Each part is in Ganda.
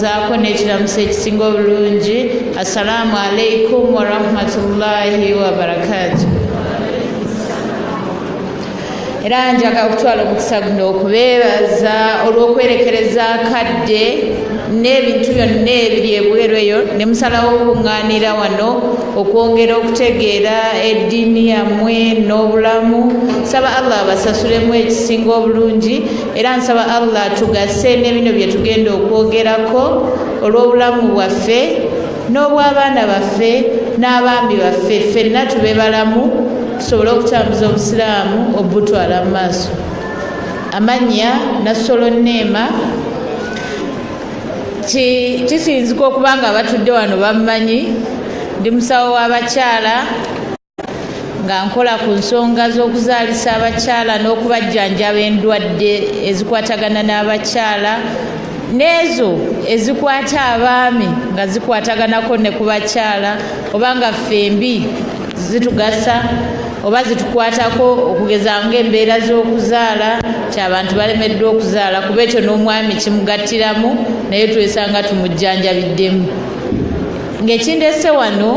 zaako n'ekiramuso ekisinga obulungi assalaamu alaikum warahmatullahi wabarakatu era njaga okutwala omukisa guno okubeebaza olw'okwerekereza akadde n'ebintu byonna ebiri ebweru eyo ne musalawo okuŋŋaanira wano okwongera okutegeera eddiini yammwe n'obulamu saba allah abasasulemu ekisinga obulungi era nsaba allah atugase ne bino bye tugenda okwogerako olw'obulamu bwaffe n'obw'abaana baffe n'abaami baffe ffenna tube balamu tusobole okutambuza obusiraamu obutwala mu maaso amannya nassolo nneema kisinzika okuba nga abatudde wano bammanyi ndi musawo w'abakyala nga nkola ku nsonga z'okuzaalisa abakyala n'okubajjanjaba endwadde ezikwatagana n'abakyala n'ezo ezikwata abaami nga zikwataganako ne ku bakyala oba nga ffembi zitugasa oba zitukwatako okugeza ngaembeera z'okuzaala kyabantu balemeddwa okuzaala kuba ekyo n'omwami kimugattiramu naye twesanga tumujjanjabiddemu ng'ekindese wano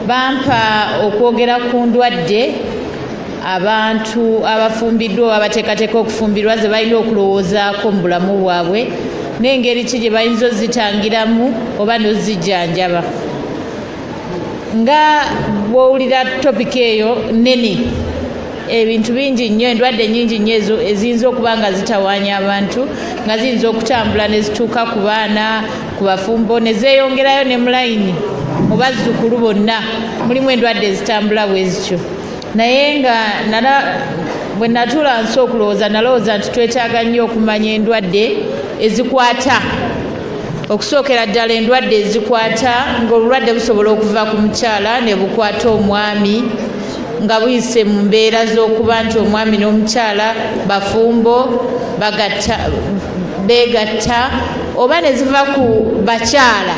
bampa okwogera ku ndwadde abantu abafumbiddwa oba abateekateeka okufumbirwa ze balina okulowoozaako mu bulamu bwabwe n'engeri ki gye bayinza ozitangiramu oba n'ozijjanjaba nga bwowulira topiki eyo nnene ebintu bingi nnyo endwadde nyingi nnyo ezo eziyinza okuba nga zitawaanya abantu nga ziyinza okutambula ne zituuka ku baana ku bafumbo ne zeeyongerayo ne mulayini mu bazzukulu bonna mulimu endwadde ezitambula bwe zityo naye nga nala bwe natuula nsi okulowooza nalowooza nti twetaaga nnyo okumanya endwadde ezikwata okusookera ddala endwadde ezikwata ng'obulwadde busobola okuva ku mukyala ne bukwata omwami nga buyise mu mbeera z'okuba nti omwami n'omukyala bafumbo beegatta oba ne ziva ku bakyala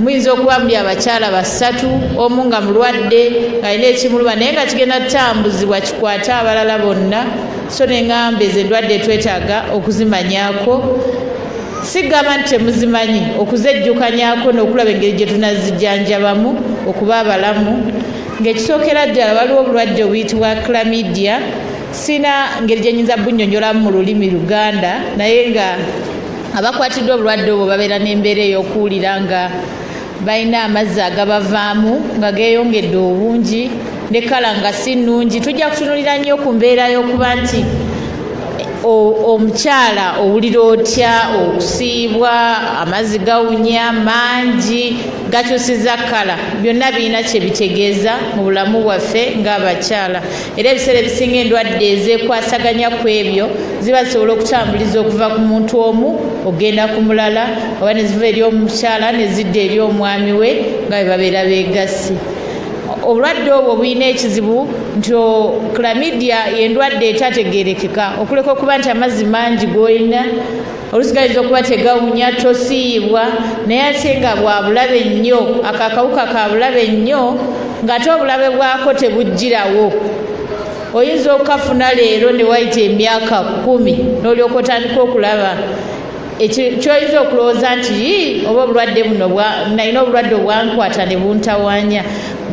muyinza okuba muli abakyala basatu omu nga mulwadde ng'alina ekimuluma naye nga kigenda kutambuzibwa kikwate abalala bonna so neŋamba ezo endwadde twetaaga okuzimanyako sigamba nti temuzimanyi okuzejjukanyako n'okulaba engeri gye tunazijjanjabamu okuba abalamu ng'ekisookera ddala waliwo obulwadde obuyitibwa clamidia sirina ngeri gye nyinza bunnyonnyolamu mu lulimi luganda naye nga abakwatiddwa obulwadde obwo babeera n'embeera ey'okuwulira nga balina amazzi agabavaamu nga geeyongedde obungi ne kala nga si nnungi tujja kutunulira nnyo ku mbeera y'okuba nti omukyala owulira otya okusiibwa amazzi gawunya mangi gakyusiza kala byonna birina kye bitegeeza mu bulamu bwaffe ng'abakyala era ebiseera ebisinga endwadde ezekwasaganya ku ebyo ziba zisobola okutambuliza okuva ku muntu omu okugenda ku mulala oba ne ziva eri omukyala ne zidda eri omwami we nga bwe babeera beegassi obulwadde obwo bulina ekizibu nti clamidia endwadde etategerekeka okuleka okuba nti amazzi mangi golina olusi gayinza okuba tegawunya tosiiyibwa naye ate nga bwabulabe nnyo ako akawuka kabulabe nnyo ng'ate obulabe bwako tebujjirawo oyinza okukafuna leero ne wayita emyaka kumi n'olyoka otandika okulaba kyoyinza okulowooza nti yii oba obulwadde buno nalina obulwadde obwankwata ne buntawanya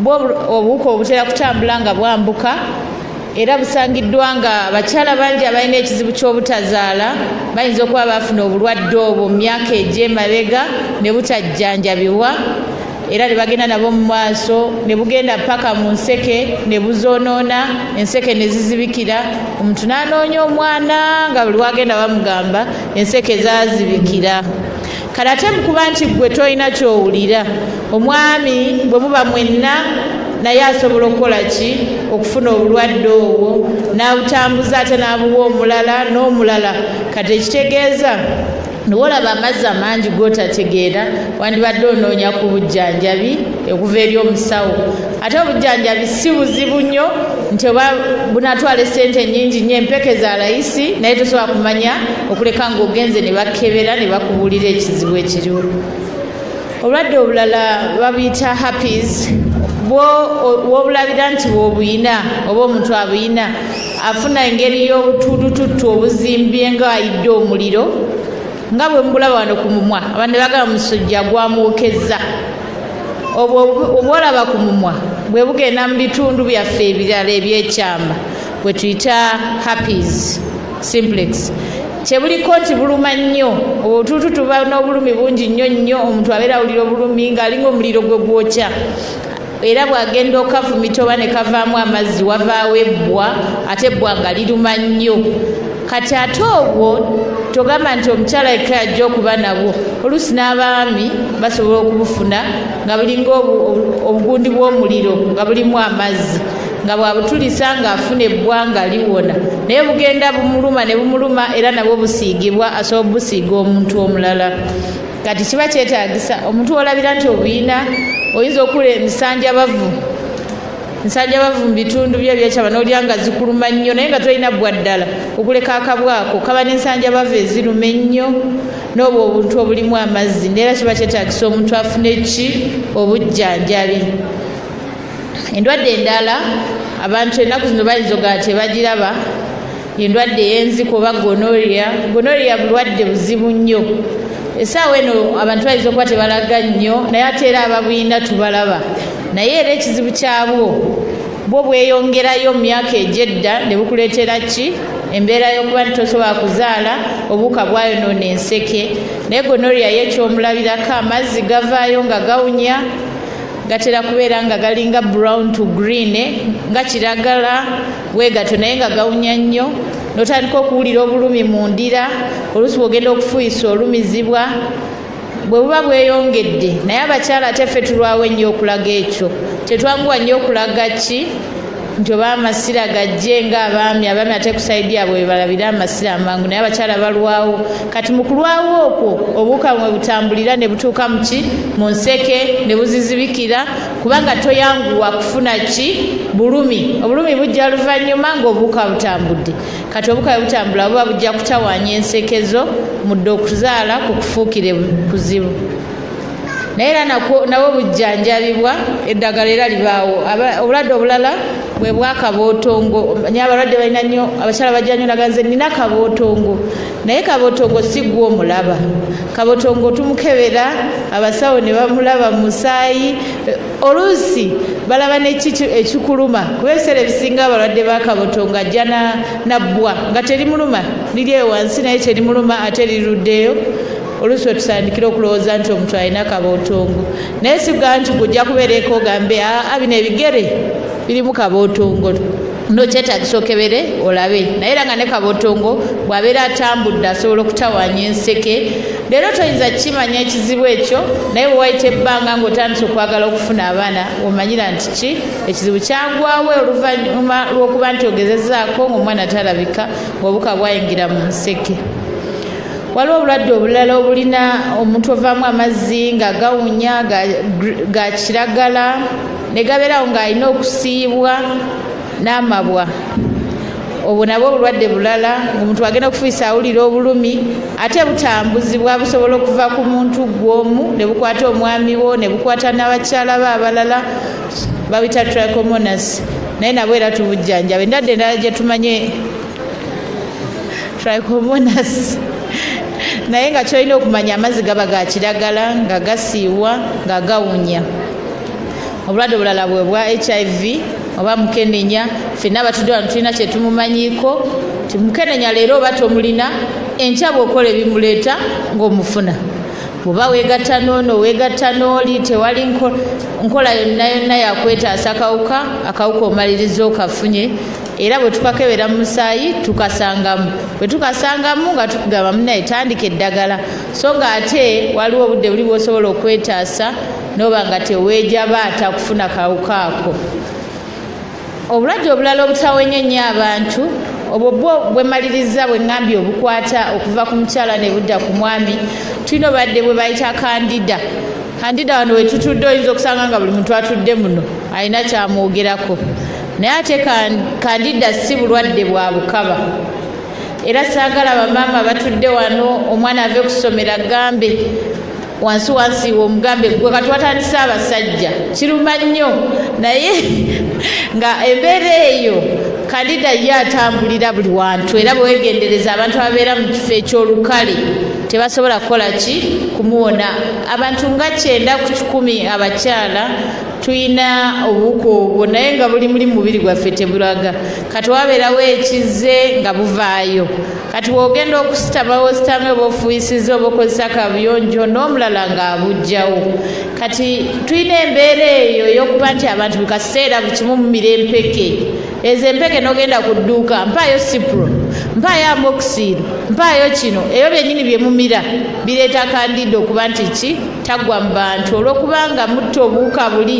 bwo obuwuka obutera kutambula nga bwambuka era busangiddwa nga bakyala bangi abalina ekizibu ky'obutazaala bayinza okuba baafuna obulwadde obwo mu myaka egy'emabega ne butajjanjabibwa era ne bagenda nabo mu maaso ne bugenda paka mu nseke ne buzoonoona enseke ne zizibikira omuntu n'anoonya omwana nga buli wagenda bamugamba enseke zaazibikira kale ate mukuba nti ggwe tolina kyowulira omwami bwe muba mwenna naye asobola okukola ki okufuna obulwadde obwo n'abutambuza ate n'abuwa omulala n'omulala kati ekitegeeza niwolaba amazzi amangi gotategeera wandibadde onoonya ku bujjanjabi okuva eri omusawo ate obujjanjabi si buzibu nnyo nti oba bunatwala esente enyingi nyo empeke za layisi naye tosobola kumanya okuleka ngaogenze ne bakebera ne bakubuulira ekizibu ekiriwo obulwadde obulala babuyita happies wobulabira nti wobuyina oba omuntu abuyina afuna engeri y'obutulututtu obuzimbye nga ayidde omuliro nga bwe mubulaba wano ku mumwa abandi bagala musujja gwamwokezza obwo obwolaba ku mumwa bwe bugenda mu bitundu byaffe ebirala ebyekyama bwe tuyita happies simplex kyebuliko nti buluma nnyo obutuutu tuba n'obulumi bungi nnyo nnyo omuntu abeera awulira obulumi ng'alinga omuliro gwe gwokya era bwagenda okafumita oba ne kavaamu amazzi wavaawo ebbwa ate ebbwa nga liruma nnyo kati ate obwo togamba nti omukyala yekka yajja okuba nabwo oluusi n'abaami basobola okubufuna nga bulinga obugundi bw'omuliro nga bulimu amazzi nga bwabutulisa ng'afuna ebbwanga liwona naye bugenda bumuluma ne bumuluma era nabwo busiigibwa asobola obusiiga omuntu omulala kati kiba kyetagisa omuntu wolabira nti obuyina oyinza okula emisanjabavu nsajja bavu mu bitundu byo ebyakyaba n'olya nga zikuluma nnyo naye nga tolina bbwa ddala okuleka akabwako kaba n'ensanja bavu eziruma ennyo n'obwo obuntu obulimu amazzi neera kiba kyetagisa omuntu afune ki obujjanjabi endwadde endala abantu ennaku zino bayinza ogaa tebagiraba endwadde ey'enziko oba gonoria gonoria bulwadde buzibu nnyo esaawa eno abantu bayinza okuba tebalaga nnyo naye ate era ababulina tubalaba naye era ekizibu kyabwo bwo bweyongerayo mu myaka egyedda ne bukuleetera ki embeera y'okuba nti tosobola kuzaala obuuka bwayonoona enseke naye gonoria ye ekyomulabirako amazzi gavaayo nga gawunya gatera kubeera nga galinga brown to green eh, nga kiragala weegatwe naye nga gawunya nnyo n'otandika okuwulira obulumi mu ndira oluusi bw'ogenda okufuuyisa olumizibwa bwe buba bweyongedde naye abakyala ate ffe tulwawo ennyo okulaga ekyo tetwanguwa nnyo okulaga ki nti oba amasira gajje nga abaami abaami ate kusaidi abwe webalabire amasira amangu naye abakyala balwawo kati mu kulwawo okwo obuwuka mwe butambulira ne butuuka muki mu nseke ne buzizibikira kubanga toyanguwa kufuna ki bulumi obulumi bujja luvannyuma ng'obuwuka butambudde kati obuka bwe butambula buba bujja kutawaanya ensekezo mudde okuzaala ku kufuukire kuzibu naye era nabwo bujjanjabibwa eddagala era libaawo obulwadde obulala bwe bwakabootongo nyo abalwadde balina nnyo abakyala bajja nyo naganze nina kabootongo naye kabotongo si gwe omulaba kabotongo tumukebera abasawo ne bamulaba mu musaayi eh, oluusi balaba neki ekikuluma kuba ebiseera ebisinga abalwadde ba kabotongo ajja nabbwa nga terimuluma liri eyo wansi naye terimuluma ate liruddeyo oluusi wetusandikira okulowooza nti omuntu alina kabotongo naye siga nti gujja kubeera ekoogambe aa bino ebigere birimu kabotongo no kyetagisa okebere olabe naye era nga ne kabotongo bwabeera atambudde asobola okutawanya enseke leero toyinza kukimanya ekizibu ekyo naye bwewayita ebbanga ngaotandisa okwagala okufuna abaana omanyira nti ki ekizibu kyagwawo oluvanyuma lwokuba nti ogezezaako ngaomwana talabika ngaobuka bwayingira mu nseke waliwo obulwadde obulala obulina omuntu ovaamu amazzi nga gawunya ga kiragala ne gabeerawo ng'alina okusiibwa n'amabwa obwo nabwo obulwadde bulala omuntu agenda okufuisa awulira obulumi ate butambuzibwa busobola okuva ku muntu gwomu ne bukwata omwami wo ne bukwata n'abakyala be abalala babita tricomonas naye nabwo era tubujjanjaba endadde endala gye tumanye tricomonas naye nga kyolina okumanya amazzi gaba ga kiragala nga gasiiwa nga gawunya obulwadde obulala bwe bwa hiv oba mukenenya fenna abatudde wano tulina kyetumumanyiiko ti mukenenya leero oba tomulina enkya bwokola ebimuleeta ngaomufuna oba wegatta noono wegatta nooli tewali nkola yonna yonna yakwetaasa kawuka akawuka omaliriza okafunye era bwe tukakebera mu musaayi tukasangamu bwe tukasangamu nga tukugamba munaye tandika eddagala so nga ate waliwo obudde buli bwosobola okwetaasa noba nga teweejabaata kufuna kawuka ako obulwadde obulala obutawenye nnyo abantu obwo bwo bwemaliriza bwe ŋŋambye obukwata okuva ku mukyala ne budda ku mwami tulina obadde bwe bayita kandida kandida wano wetutudde oyinza okusanga nga buli muntu atudde muno alina kyamwogerako naye ate kandida si bulwadde bwa bukaba era saagala bamaama batudde wano omwana ave ku ssomero agambe wansi wansi womugambe gwe kati watandise abasajja kiruma nnyo naye nga embeera eyo kalida ye atambulira buli wantu era bwewegendereza abantu ababeera mu kifo ekyolukale tebasobola kukola ki kumuwona abantu nga kyenda ku kikumi abakyala tulina obuwuka obwo naye nga buli muli mubiri gwaffe tebulaga kati wabeerawo ekize nga buvaayo kati bwogenda okusitama wositame oba ofuuyisiza oba okozesa kabuyonjo n'omulala ng'abujjawo kati tulina embeera eyo ey'okuba nti abantu buli kaseera buli kimu mumira empeke ezo empeke n'ogenda ku dduuka mpaayo sipro mpaayo amoxil mpaayo kino ebyo byennyini bye mumira bireeta kandida okuba nti ki taggwa mu bantu olw'okubanga mutta obuwuka buli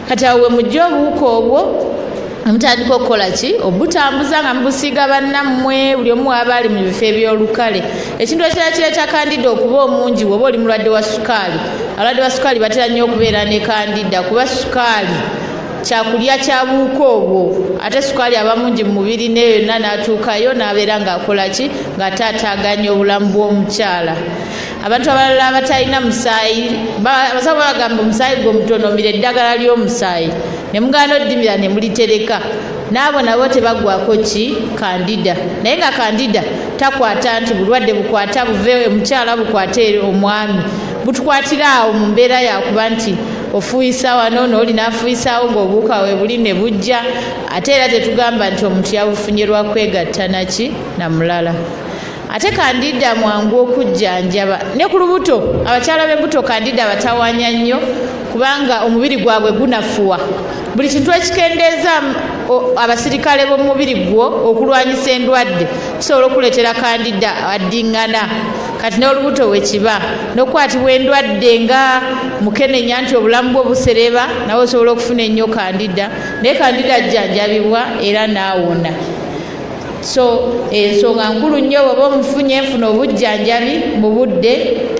kati awo wemujja obuwuka obwo mutandika okukola ki obutambuza nga mubusiiga bannammwe buli omu waaba ali mu bifo ebyolukale ekintu ekirala kireeta kandida okuba omungi woba oli mulwadde wa sukaali abalwadde ba sukaali batera nnyo okubeera ne kandida kuba sukaali kyakulya kyabuuka obwo ate sukaali aba mungi mu mubiri neyo yonna n'atuukayo n'abeera ng'akola ki ng'ate ataaganya obulamu bw'omukyala abantu abalala abatalina musaayi abasawo babagamba omusaayi gwe omutonomira eddagala ly'omusaayi ne mugaana oddimira ne mulitereka n'abo nabo tebagwako ki kandida naye nga kandida takwata nti bulwadde bukwata buve omukyala bukwata eri omwami butukwatira awo mu mbeera yakuba nti ofuuyisa wano nooli n'afuuyisaawo ng'obuuka we buli ne bujja ate era tetugamba nti omuntu yabufunye lwa kwegatta naki na mulala ate kandida mwangu okujjanjaba ne ku lubuto abakyala b'embuto kandida abatawanya nnyo kubanga omubiri gwabwe gunafuwa buli kintu ekikendeeza abasirikale b'omubiri gwo okulwanyisa endwadde kisobola okuleetera kandida addiŋŋana kati n'olubuto wekiba n'okukwatibwa endwadde nga mukenenya nti obulamu bwo busereba nawe osobola okufuna ennyo kandida naye kandida ajjanjabibwa era naawona so ensonga eh, nkulu nnyo bweba omufunye enfuna obujjanjabi mu budde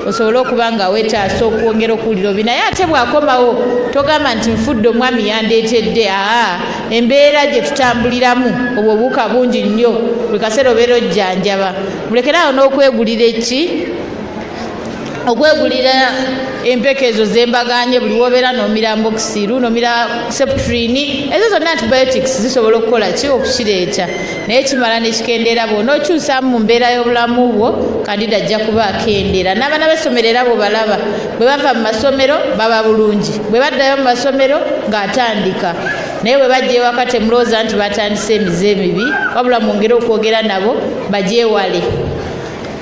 osobole okuba nga wetaasa okwongera okuwulira obi naye ate bwakomawo togamba nti nfudde omwami yandeetedde aa embeera gye tutambuliramu obwo obuuka bungi nnyo buli kaseera obeera ojjanjaba mulekere awo n'okwegulira eki okwegulira empeke ezo zembaganye buli wobeera nomira mbokisiru nomira septrini ezo zonna antibiotics zisobola okukola ki okukireeta naye kimala nekikendeera bwona okyusamu mu mbeera y'obulamu bwo kandida ajja kuba akendeera n'abaana b'essomero era bwebalaba bwe bava mu masomero baba bulungi bwe baddayo mu masomero ng'atandika naye bwe bajja ewaka temulowooza nti batandise emize emibi wabula mwongere okwogera nabo bagyewale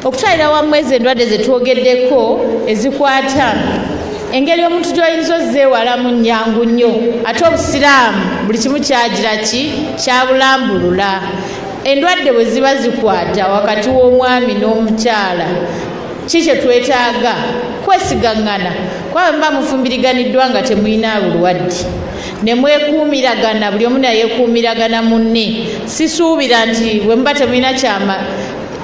okutwalira wamu ezo endwadde zetwogeddeko ezikwata engeri omuntu gyoyinza ozeewalamu nyangu nnyo ate obusiraamu buli kimu kyagira ki kyabulambulula endwadde bwe ziba zikwata wakati w'omwami n'omukyala ki kye twetaaga kwesigaŋŋana kwaba muba mufumbiriganiddwa nga temulina bulwadde ne mwekuumiragana buli omu nayekuumiragana munne sisuubira nti bwe muba temulina kyama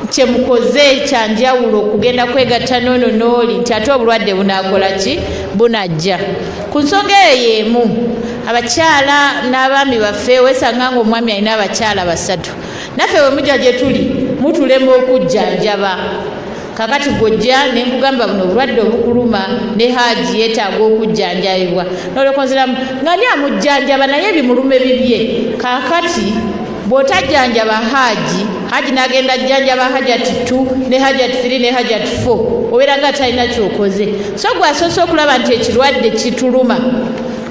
kyemukoze kyanjawulo okugenda kwegatta noono nooli nti ate obulwadde bunaakola ki bunajja ku nsonga eyo yeemu abakyala n'abaami baffe wesanga nga omwami alina abakyala basatu naffe bwe mujja gye tuli mutulema okujjanjaba kakati gwojja nenkugamba buno obulwadde obukuluma ne haaji yeetaaga okujjanjabibwa nolekonziramu nga ni amujjanjaba naye ebimulume bibye kakati bw'otajjanjaba haaji haaji n'agenda ajjanjaba hajati two ne hajati three ne hajati four obeera nga talina kyokoze so gwe asoose okulaba nti ekirwadde kituluma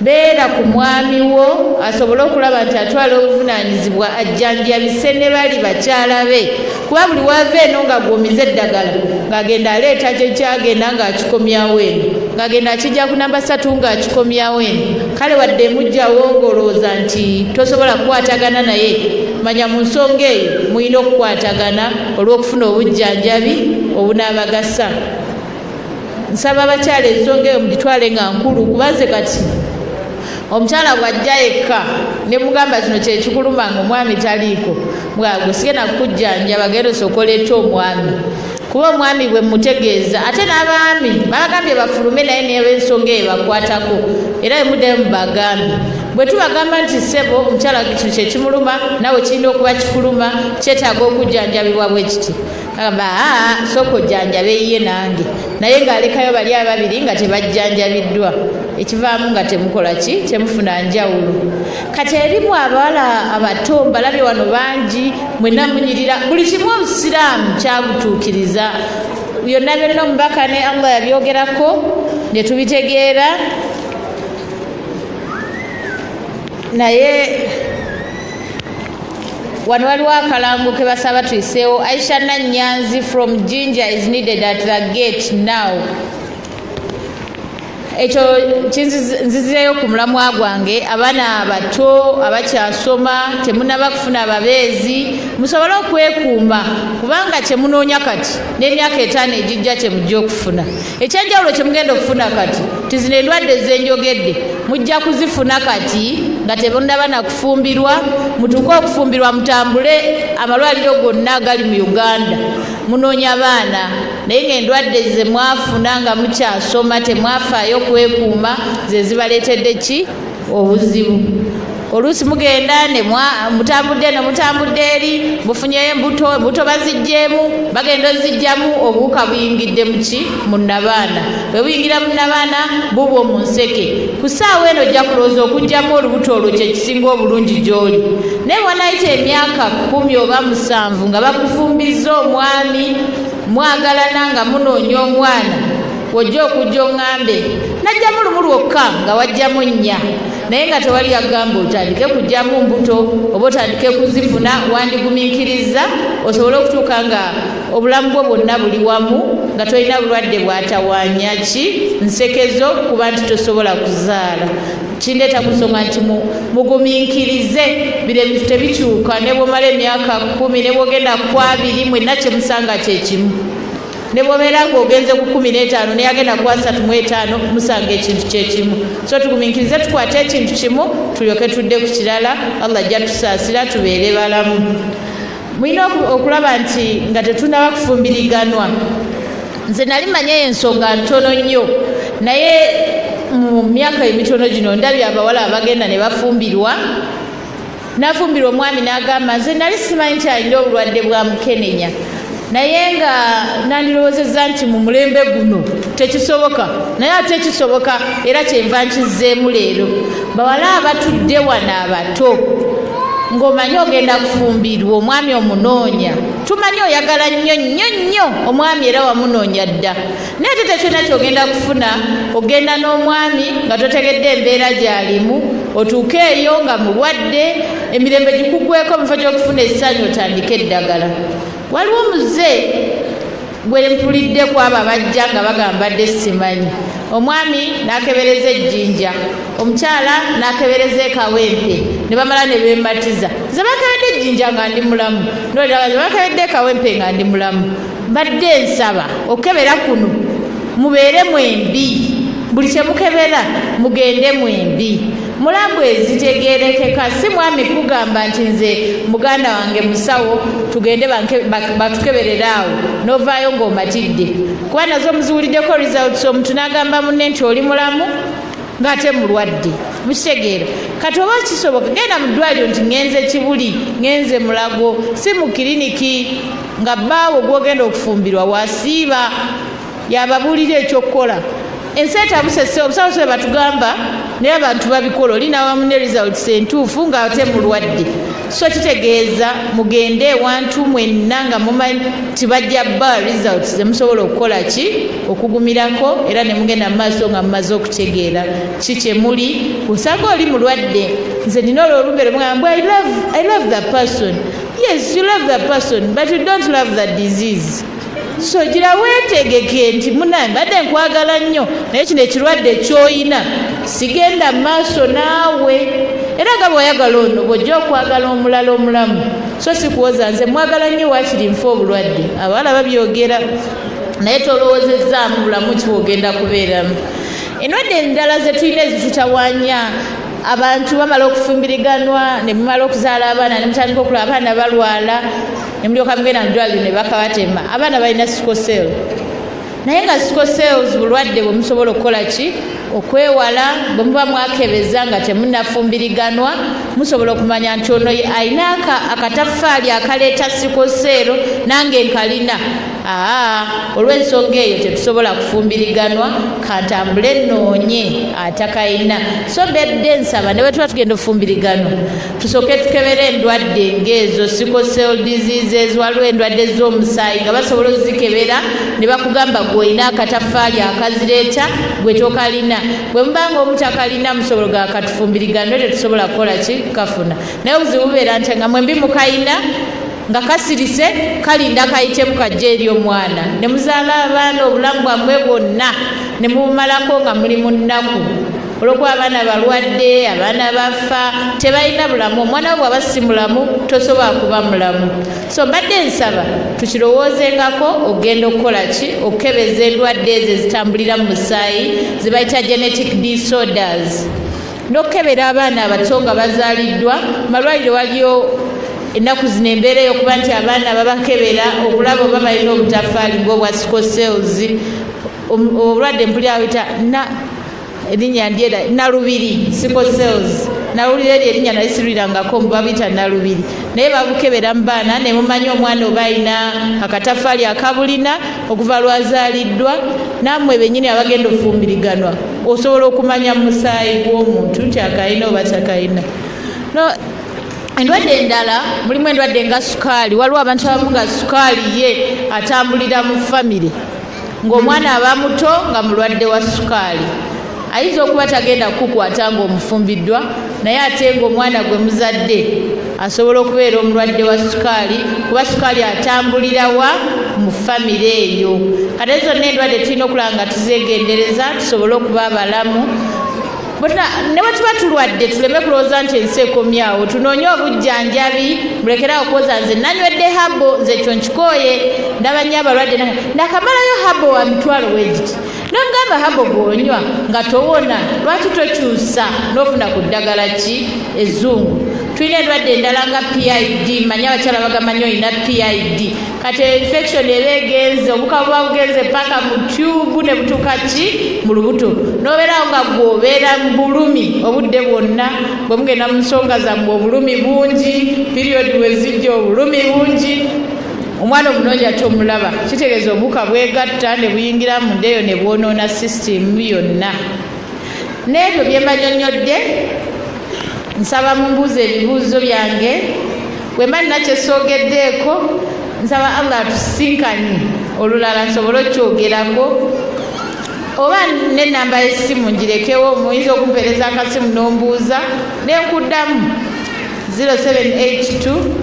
beera ku mwami wo asobole okulaba nti atwala obuvunaanyizibwa ajjanjabise ne bali bakyala be kuba buli waava eno ng'agwomiza eddagala ng'agenda aleeta kyekyagenda ng'akikomyawo eno ng'agenda akijja ku namba satu ng'akikomyawo eno kale wadde emugjawo ng'olowooza nti tosobola kukwatagana naye manya mu nsonga eyo mulina okukwatagana olw'okufuna obujjanjabi obunaabagasa nsaba abakyala ensonga eyo mugitwale nga nkulu kubanze kati omukyala bwajja yekka ne mugamba kino kyekikuluma nga omwami taliiko bwago sigenda kukujjanja bagenda osokola etya omwami kuba omwami bwe mutegeeza ate n'abaami babagambye bafulume naye neba ensonga eyo bakwatako era bemuddayo mubagambe bwe tubagamba nti ssebo omukyala kino kyekimuluma nawe kirina okuba kikuluma kyetaaga okujjanjabibwa bwe kiti agamba aa sooka ojjanjaba eyiye nange naye ng'alekayo bali ababiri nga tebajjanjabiddwa ekivaamu nga temukola ki temufuna njawulo kati erimu abawala abato mbalabye wano bangi mwena munyirira buli kimu obusiraamu kyabutuukiriza byonna byonna omubaka ne allah yabyogerako ne tubitegeera naye wano waliwo akalango ke basaba tuyiseewo aisha nanyanzi from ginger is needed at the gate now ekyo nzizireyo ku mulamwa gwange abaana abato abakyasoma temunaba kufuna ababeezi musobole okwekuuma kubanga kyemunoonya kati n'emyaka etaano egijja kyemujja okufuna ekyenjawulo kyemugenda okufuna kati ti zino endwadde zenjogedde mujja kuzifuna kati nga tebonaba nakufumbirwa mutuuke okufumbirwa mutambule amalwaliro gonna gali mu uganda munoonya baana naye ngaendwadde zemwafuna nga mukyasoma temwafaayo kwekuuma zezibaleetedde ki obuzibu oluusi mugenda ne mutambudde ne mutambudde eri mufunyeyo embuto embuto baziggyemu bagenda ozigyamu obuwuka buyingidde muki mu nnabaana bwe buyingira mu nnabaana bubwo mu nseke ku ssaawa eno ojja kulowooza okugyamu olubuto olwo kye kisinga obulungi gy'oli naye wanayita emyaka kkumi oba musanvu nga bakufumbizza omwami mwagalana nga munoonya omwana wojja okujja oŋŋambe najjamu lumu lwokka nga wajjamu nnya naye nga tewali yagamba otandike kujjamu mbuto oba otandike kuzifuna wandigumiikiriza osobole okutuuka nga obulamu bwo bwonna buli wamu nga tolina bulwadde bwatawanya ki nsekezo kuba nti tosobola kuzaala kindeeta ku nsonga nti mugumiikirize biro ebintu tebikyuka ne bwomala emyaka kumi ne bwogenda kwabiri mwenna kyemusanga kyekimu ne bwobeera nga ogenze ku kumi n'etaano naye agenda kuwa satu mu etaano musanga ekintu kyekimu so tugumiikirize tukwate ekintu kimu tulyoke tudde ku kirala allah ajja tusaasira tubeere balamu mulina okulaba nti nga tetunaba kufumbiriganwa nze nali manya eyo ensonga ntono nnyo naye mu myaka emitono gino ndabye abawala abagenda ne bafumbirwa Nafumbirwa omwami n'agamba nze nali simanyi nti alina obulwadde bwa mukenenya naye nga nandirowoozezza nti mu mulembe guno tekisoboka naye ate kisoboka era kyenva nkizzeemu leero bawala abatudde wano abato ng'omanyi ogenda kufumbirwa omwami omunoonya tumanyi oyagala nnyo nnyo nnyo omwami era wamunoonya dda naye ate tekyona kyogenda kufuna ogenda n'omwami nga totegedde embeera gyalimu otuuke eyo nga mulwadde emirembe gikugweko mufo gyokufuna essanyu otandike eddagala waliwo muze gwe mpulidde kwabo abajja nga bagamba dde simanyi omwami nakebereza ejjinja omukyala nakebereza ekawempe ne bamala ne bematiza ze bakebedde ejjinja nga ndi mulamu nolaba ze bakebedde ekawempe nga ndi mulamu mbadde nsaba okukebera kuno mubeere mwembi buli kye mukebera mugende mwembi mulabu ezitegerekeka si mwami kugamba nti nze muganda wange musawo tugende batukeberere awo novaayo ng'omatidde kuba nazo muziwuliddeko results omuntu n'agamba munne nti oli mulamu ng'ate mulwadde mukitegeera kati oba kisoboka genda mu ddwaliro nti ngenze kibuli ngenze mulago si mu kiriniki nga bbaawo gwogenda okufumbirwa wasiiba yababuulira ekyokukola ensi etabusese obusawo se batugamba naye abantu babikola oli nawamu ne results entuufu nga ate mulwadde so kitegeeza mugende ewantu mwenna nga mumanyi nti bajja ba results zemusobola okukola ki okugumirako era ne mugenda mu maaso nga mumaze okutegeera ki kyemuli osanga oli mulwadde nze nina olwolumbe lwemugamba i love the person yes you love the person but you don't love the disease so gira wetegeke nti munaye mbadde nkwagala nnyo naye kino ekirwadde kyoyina sigenda maaso naawe era nga bweyagala ono bwojja okwagala omulala omulamu so sikuwoza nze mwagala nnyo wakiri nfa obulwadde abawala babyogera naye tolowozezzaamu bulamu kiwogenda kubeeramu endwadde endala zetulina ezitutawanya abantu bamala okufumbiriganwa ne mumala okuzaala abaana ne mutandika okula abaana balwala ne mulyoka mugenda mu ddwaliro ne bakabatema abaana balina sikosel naye nga sikosels bulwadde bwe musobola okukola ki okwewala bwe muba mwakebeza nga temunafumbiriganwa musobola okumanya nti ono alina akataffaali akaleeta sikoseero nange nkalina aa olw'ensonga eyo tetusobola kufumbiriganwa kantambule noonye atakayina so bedde nsaba ne bwetuba tugenda ofumbiriganwa tusooke tukebera endwadde ng'ezo sicosel diseases waliwo endwadde z'omusaayi nga basobola ozikebera ne bakugamba gwe olina akataffaali akazireeta gwe tokalina bwe muba nga omutakalina musobolo ga katufumbiriganwe tetusobola kukola ki kafuna naye obuzibu bubeera nti nga mwembi mukayina nga kasirise kalinda kayitemu kajja eri omwana ne muzaala abaana obulamu bwammwe bwonna ne mubumalako nga muli mu nnaku olwokuba abaana balwadde abaana bafa tebalina bulamu omwana wo bwaba si mulamu tosobola kuba mulamu so mbadde nsaba tukirowoozengako okugenda okukola ki okukebeza endwadde ezo ezitambulira mu musaayi zebayita genetic disorders n'okukebera abaana abato nga bazaaliddwa malwaliro waliyo ennaku zino embeera eyokuba nti abaana babakebera okulaba oba balina obutafaali ngaobwa sicosels obulwadde mpuli awita erinnya ndyera nalubiri sicosels nawulira eryo erinnya nali sirwirangako mbu babuyita nalubiri naye babukebera mu baana nemumanya omwana oba alina akatafaali akabulina okuva lwazaaliddwa naamwe bennyini abagenda okufumbiriganwa osobola okumanya mu musaayi gw'omuntu nti akalina oba takalina no endwadde endala mulimu endwadde nga sukaali waliwo abantu abamu nga sukaali ye atambulira mu famire ng'omwana aba muto nga mulwadde wa sukaali ayinza okuba tagenda kukukwata ng'omufumbiddwa naye ate ng'omwana gwe muzadde asobola okubeera omulwadde wa sukaali kuba sukaali atambulira wa mu famire eyo kate zonna endwadde tulina okulaba nga tuzeegendereza tusobole okuba abalamu ne bwe tuba tulwadde tuleme kulowooza nti ensi ekomyawo tunoonye obujjanjabi mulekerawo kuwoza nze nanywedde habo nze ekyo nkikooye ndaba nnyo abalwadde nakamalayo habo wa mitwalo wegiti nomugamba habo gwonywa nga towona lwaki tokyusa nofuna ku ddagala ki ezungu tulina endwadde endala nga pid manya abakyala bagamanyi olina pid kati infection eba egenze obuka buba bugenze paka mu tyubu ne butuuka ki mu lubuto nobeerawo nga gwe obeera mu bulumi obudde bwonna bwe mugenda mu nsonga zammwe obulumi bungi period wezijja obulumi bungi omwana omulungi ate omulaba kitegeeza obuka bwegatta ne buyingira mu ndeeyo ne bwonoona sisitimu yonna n'ebyo bye mbanyonnyodde nsaba mumbuuza ebibuuzo byange bwe mba nina kyesoogeddeeko nsaba allah atusisinkanye olulala nsobole okukyogerako oba nenamba yesimu ngirekewo muyinza okumpereza akasimu nombuuza nenkuddamu 078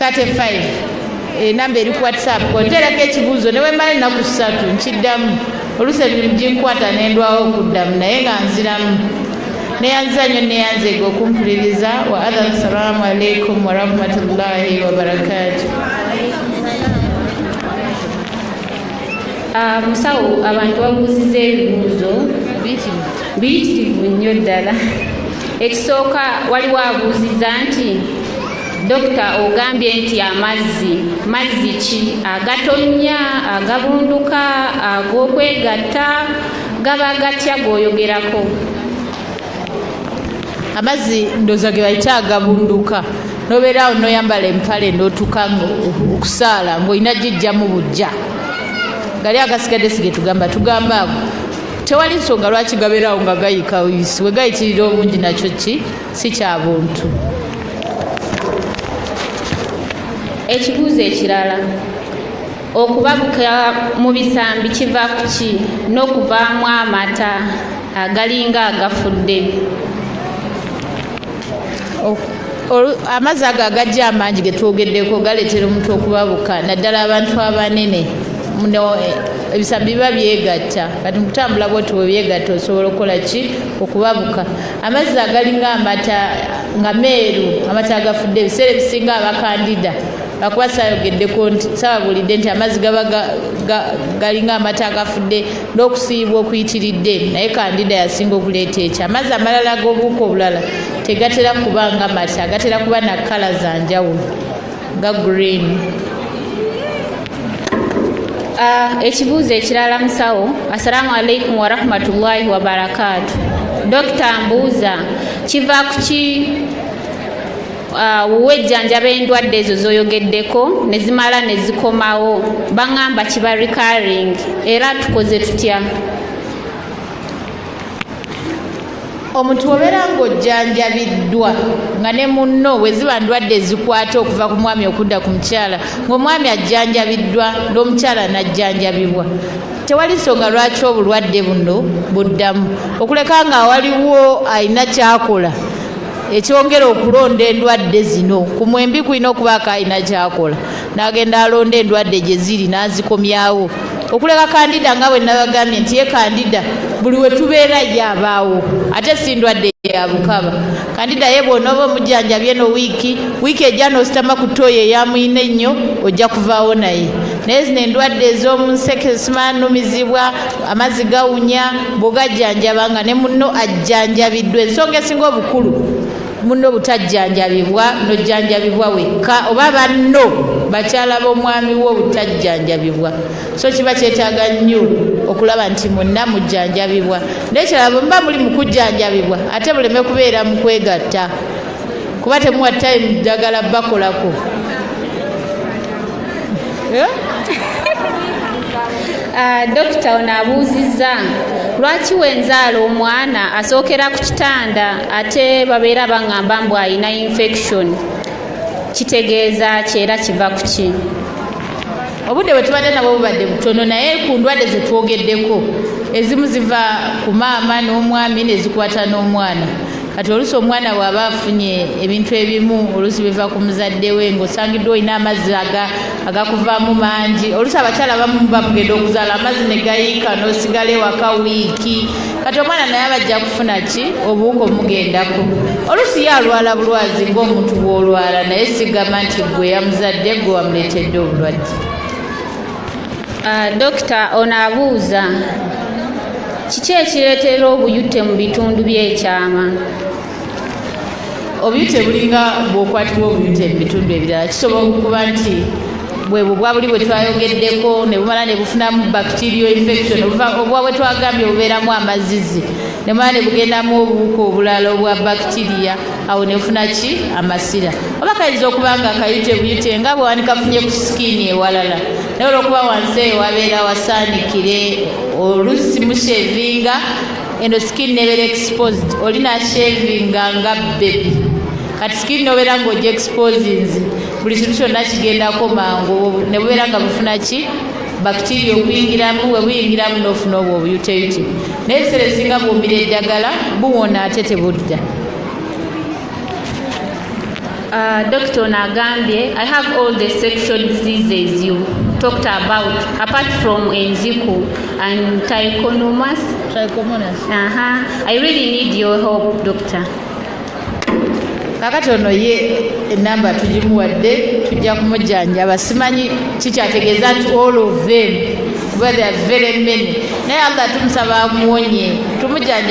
35 enamba eh, eri ku whatsapp konterako ekibuuzo newemala ennaku ssatu nkiddamu olusi emirimu ginkwata nendwawo okuddamu naye nga nziramu neyanziza nyo neyanzega okumpuliriza wa adha assalamu alaikum warahmatullahi wabarakatu ah, musawo abantu babuuziza ebibuuzo biyitirivu nnyo ddala ekisooka waliwo abuuziza nti Dokita ogambye nti amazzi mazzi ki agatonnya agabunduka ag'okwegatta gaba gatya g'oyogerako amazzi ndoza ge bayita agabunduka nobeerawo noyambala empale notuka okusaala ngaolina gijjamu bujja gali agasigadde sigetugamba tugamba ago tewali nsonga lwaki gabeerawo nga gayika wisi wegayitirira obungi nakyo ki si kya buntu ekibuuzo ekirala okubabuka mu bisambi kiva ku ki n'okuvaamu amata agalinga agafudde amazzi ago agajja amangi ge twogeddeko galeetera omuntu okubabuka naddala abantu abanene muno eh, ebisambi biba byegatta kati mukutambula bwoti bwebyegatta osobola okukola ki okubabuka amazzi agalinga amata nga meeru amata agafudde ebiseera ebisinga abakandida akuba sayogeddeko nti sababulidde nti amazzi gaba galinga amata agafudde n'okusiibwa okuyitiridde naye kandida yasinga okuleeta ekyo amazzi amalala ag'obuuka obulala tegatera kuba nga mata gatera kuba na kkala za njawulo ga green ah, ekibuuzo ekirala musawo assalamu alaikum warahmatullahi wabarakaatu dokita mbuuza kiva kuki ah, wuwe ejjanjaba endwadde ezo zoyogeddeko nezimala nezikomawo baŋamba kiba recurring era tukoze tutya omuntu obeera ng'ojjanjabiddwa nga ne munno bwe ziba ndwadde ezikwata okuva ku mwami okudda ku mukyala ng'omwami ajjanjabiddwa n'omukyala n'ajjanjabibwa tewali nsonga lwaki obulwadde buno buddamu okuleka nga waliwo alina kyakola ekyongera okulonda endwadde zino ku mwembi kulina okubaako alina kyakola n'agenda alonda endwadde gye ziri n'azikomyawo okuleka kandida nga bwe nabagambye nti ye kandida buli we tubeera ye abaawo ate si ndwadde ya bukaba kandida ye bw'onooba omujjanjabye no wiiki wiiki ejja n'ositama ku tooyi eyamuyina ennyo ojja kuvaawo naye naye zino endwadde ez'omu nseke simanumizibwa amazzi gawunya bw'ogajjanjaba nga ne munno ajjanjabiddwa ensonga esinga obukulu munno obutajjanjabibwa nojjanjabibwa wekka oba banno bakyala b'omwami wo obutajjanjabibwa so kiba kyetaaga nnyo okulaba nti munna mujjanjabibwa nekirala bwe muba muli mukujjanjabibwa ate buleme kubeera mu kwegatta kuba temuwa time ddagala bakolako eh? ah, dokita ono abuuzizza lwaki wenzaala omwana asookera ku kitanda ate babeera baŋŋamba mbu alina infection kitegeeza ki era kiva ku ki obudde bwe tubadde nabwo bubadde butono naye ku ndwadde ze twogeddeko ezimu ziva ku maama n'omwami nezikwata n'omwana kati oluusi omwana bw'aba afunye ebintu ebimu oluusi biva ku muzadde we ng'osangiddwa olina amazzi agakuvaamu mangi oluusi abakyala bamu bamugenda okuzaala amazzi ne gayiika n'osigala ewaka wiiki kati omwana naye abajja kufuna ki obuwuka omugendako oluusi ye alwala bulwazi ng'omuntu bw'olwala naye sigamba nti gwe yamuzadde gwe wamuleetedde obulwadde Uh, dokita ono abuuza kiki ekireetera obuyute mu bitundu by'ekyama obuyute bulinga bwokwatibwa obuyute mu bitundu ebirala kisobola okuba nti bwe bubwa buli bwe twayogeddeko ne bumala ne bufunamu bacterial infection obubwa bwe twagambye obubeeramu amazizi ne bumala ne bugendamu obuwuka obulala obwa bacteria awo nefuna ki amasira oba kayinza okuba nga kayite buyite nga bwewani kafunye ku sikiini ewalala naye olwokuba wansi eyo wabeera wasaanikire olusi mushevinga eno sikiini nebeera exposed oli nashevinga nga bebi kati sikiini nobeera nga oja exposinzi buli kintu kyonna kigendako mangu nebubeera nga bufuna ki bakitiria okuyingiramu we buyingiramu n'ofuna obwo obuyuteyute naye ebiseera ebisinga buwumira eddagala buwona ate tebudda Uh, Dr. Onagambye, I have all the sexual diseases you talked about, apart from Enziku and Trichomonas. Trichomonas. Uh -huh. I really need your help, Doctor. kakati ono ye enamba tugimuwadde tujja kumujjanjaba simanyi kikyategeeza nti all of them kuba they are very many naye allah tumusaba amuwonye tumujjanjaba